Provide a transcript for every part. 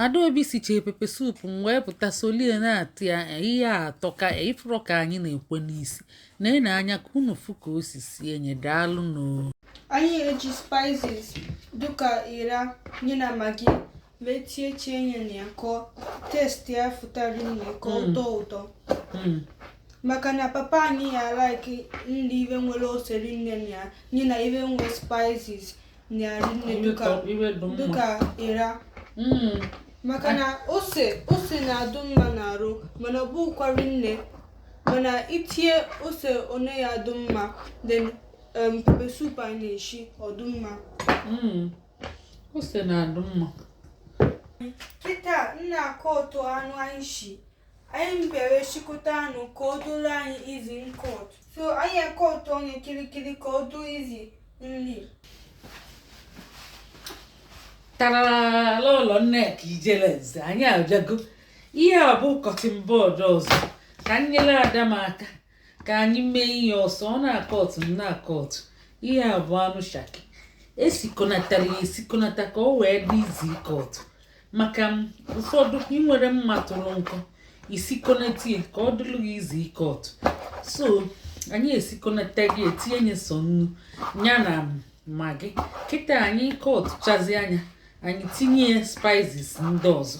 Adaobi sichee pepper soup m wee pụta solie na-atị ya ihe a atọka ịfụrọ ka anyị na-ekwe n'isi na-ene anya ka unu fụ ka o si sie enye daalụ nụ Anyị eji spices dịka ịra nye na Maggi wee tiechie nye na ya ka ọ- taste ya fụta rinne ka ọ tọọ ụtọ maka na papa anyị ya like nri ihe nwere ose rinne na ya nye na ihe nwere spices dịka ịra hmm. maka na ose ose na-adụ mma n'arụ mana ọ bụkwa rinne mana i tinye ose one ya adụ mma then um, pepper soup anyị na-eshi ọ dụ mma hmm. ose na-adụ mma kịta m na-acut anụ anyị shi anyị mgbere shikọta anụ ka ọ dụrụ anyị easy ncut so anyị acut onye kirikiri ka ọ dụ easy nri tarala ụlọ nneka ijele nze anyị abịago ihe a bụ cutting board ọzọ ka m nyere ada m aka ka anyị mee ihe ọsọ ọ na-acut m na-acut ihe a bụ anụ shaki esikonatara ya esikonata ka ọ wee dị easy ịcut maka ụfọdụ enwerọ mma tụrụ nkọ i sikonata ya ka ọ dịlụ gị easy ịcut so anyị esikonata ya etinye nye sọ nnu ya na Maggi kịta anyị cutchazia ya anyị tinye spices ndị ọzọ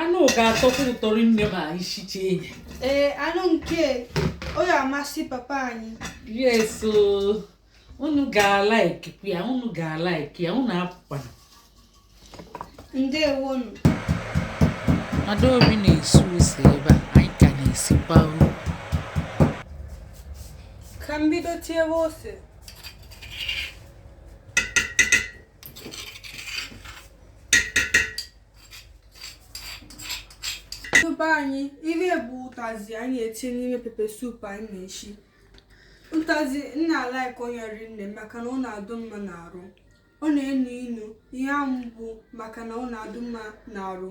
anụ ga-atọkwa ụtọ rinne ma anyị sicha enye ee anụ nke ọ ya-amasị papa anyị yes o. unu ga-alikekwa ya unu ga-alike ya unu apụkwana ndewonu Adaobi na-esi ose ebe a anyị ka na-esikwa uru ka m bido tiebe ose Tupu anyị ihe bụ ụtazị anyị etinye n'ime pepper soup anyị na-eshi ụtazị m na-alike onye rinne maka na ọ na-adụ mma n'arụ ọ na-enu inu ihe ahụ bụ maka na ọ na-adụ mma n'arụ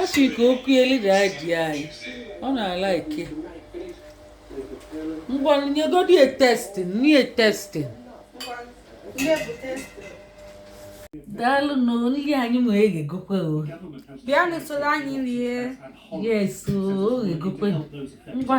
ọ sị ka o kuelu daddy anyị ọ na-alike ngwa nyegodi ya tasting nye tasting daalụ nụ nri anyị ma eghegokwe o bịanụ soro anyị rie yes o eghegokwe ngwa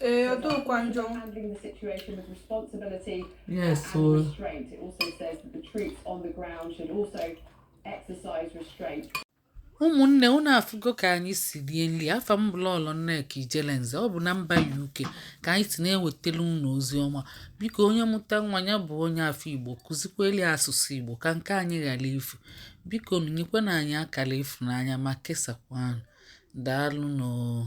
Ee, ọ dịkwa njọ. handling the situation with responsibility Yes, and o. restraint. It also says that the troops on the ground should also exercise restraint. ụmụnne unu afụgo ka anyị si rie nri afa m bụ lọlọ nneka ijelenze ọ bụ na mba uk ka anyị si na-ewetara unu ozi ọma biko onye mụta nwa ya bụ onye afọ igbo kụzikweli asụsụ igbo ka nke anyị ghara ifu bikonụ nyekwanụ anyị akara ịfụnanya ma kesakwanụ daalụnụ o